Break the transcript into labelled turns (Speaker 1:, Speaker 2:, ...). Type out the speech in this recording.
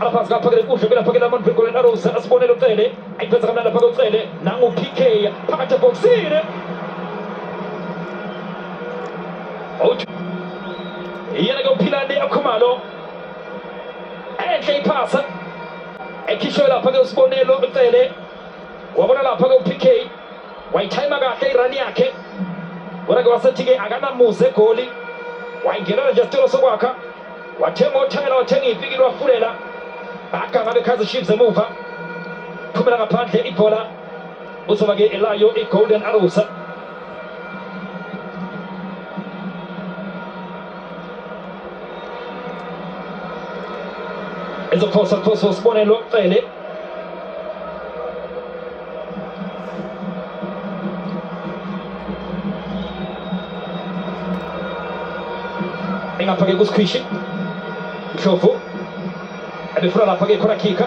Speaker 1: abaphansi kaphakele kuhle belaphakela abantu begolden arrows asibonele ucele ayiphetha kamnandi aphake ucele nangu-pk phakathi ebhokisini iyena ke uphilani akhumalo enhle iphasa ekhishwe lapha ke usibonelo ucele wabona lapha ke upk wayithayima kahle irani yakhe kodwa ke wasethi ke akanamuze egoli wayingenela nje sicelo sokwakha wathenga othela wathenga iy'pikili wafulela aganga bekhaza chiefs emuva phumela ngaphandle ibhola uzoba ke elayo i-golden arrows ezophosa phosa usibonelo cele ingapha-ke kusikhwishi ndlovu ebefuna lapha-ke khona khikha